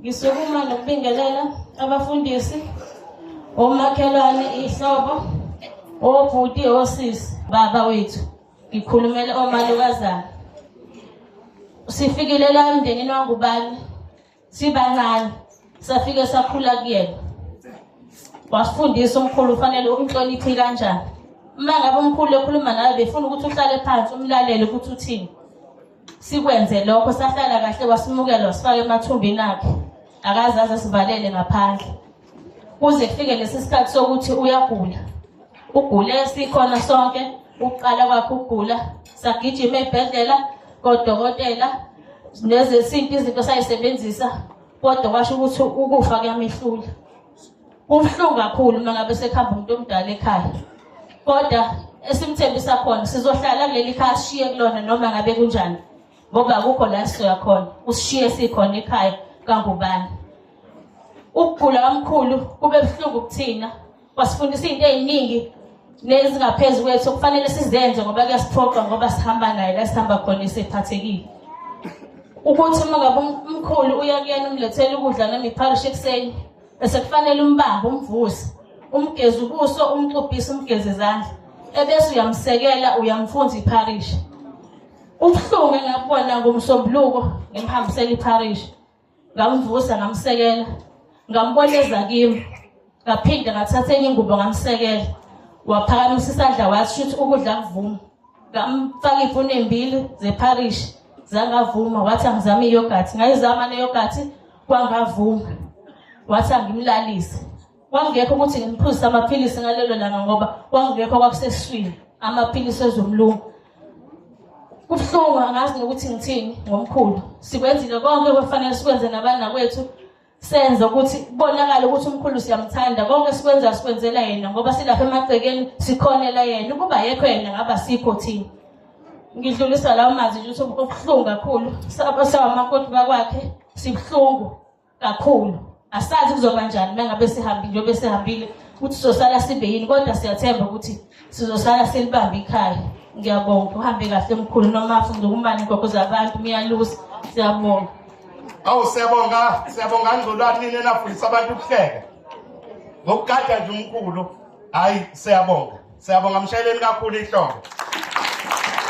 Ngisukuma nokubingelela abafundisi, omakhelwane, ihlobo, obhuti, osisi, baba wethu. Ngikhulumela omalukazana. Sifikile la emndenini wangubani sibancane safike sakhula kuyena. Wasifundisa umkhulu ufanele umhloniphe kanjani. Uma ngabe umkhulu ekhuluma nawe befuna ukuthi uhlale phansi umlalele ukuthi uthini. Sikwenze lokho sahlala kahle wasimukela wasifaka emathumbini akhe. Akaze aze sivalele ngaphandle. Kuze kufike lesi sikhathi sokuthi uyagula. Ugule sikhona sonke ukuqala kwakhe ukugula sagijima ebhedlela kodokotela nezesintu izinto sayisebenzisa kodwa kwasho ukuthi ukufa kuyamehlula Kubuhlungu kakhulu uma ngabe sekuhamba umuntu omdala ekhaya. Kodwa esimthembisa khona sizohlala kuleli khaya sishiye kulona noma ngabe kunjani. Ngoba akukho la sizoya khona. Usishiye sikhona ekhaya kangubani. Ukugula omkhulu kube buhlungu kuthina. Wasifundisa izinto eziningi lezi ngaphezu kwethu okufanele sizenze ngoba kuyasiphoqa ngoba sihamba naye la sihamba khona esephathekile ukuthi uma ngabe um-, umkhulu uya kuyena umlethele ukudla noma ipharishi ekuseni bese kufanele umbambe umvuse umgeze ubuso umxubhise umgeze izandla ebese uyamsekela uyamfunza ipharishi ubuhlungu engakubona ngomsombuluko ngimhambisela ipharishi ngamvusa ngamsekela ngambona eza kimi ngaphinde ngathatha enye ingubo ngamsekela waphakamisa isandla wathi shuthi ukudla kuvuma ngamfaka iy'funa ey'mbili zepharishi zangavuma wathi angizame iyogathi ngayizama neyogathi kwangavuma wathi angimlalise Kwakungekho ukuthi ngiphuzise amaphilisi ngalelo langa ngoba kwakungekho kwakuseswini amaphilisi ezomlungu. Kubuhlungu angazi nokuthi ngithini ngomkhulu. Sikwenzile konke okufanele sikwenze nabanakwethu senza ukuthi kubonakale ukuthi umkhulu siyamthanda konke sikwenza sikwenzela yena ngoba silapha emagcekeni sikhonela yena ukuba yekho yena ngaba sikho thina ngidlulisa lawo mazwi ukuthi obuhlungu kakhulu sabasawamakoti bakwakhe sibuhlungu kakhulu asazi kuzoba njani uma ngabe sihambile njengoba sihambile ukuthi sizosala sibe yini kodwa siyathemba ukuthi sizosala silibambe ikhaya ngiyabonga uhambe kahle mkhulu noma afunde ukumane inkokho zabantu miyalusa siyabonga awu siyabonga siyabonga ngcolwani nini enafundisa abantu ukuhleka ngokugada nje umkhulu hhayi siyabonga siyabonga mshayeleni kakhulu ihlongo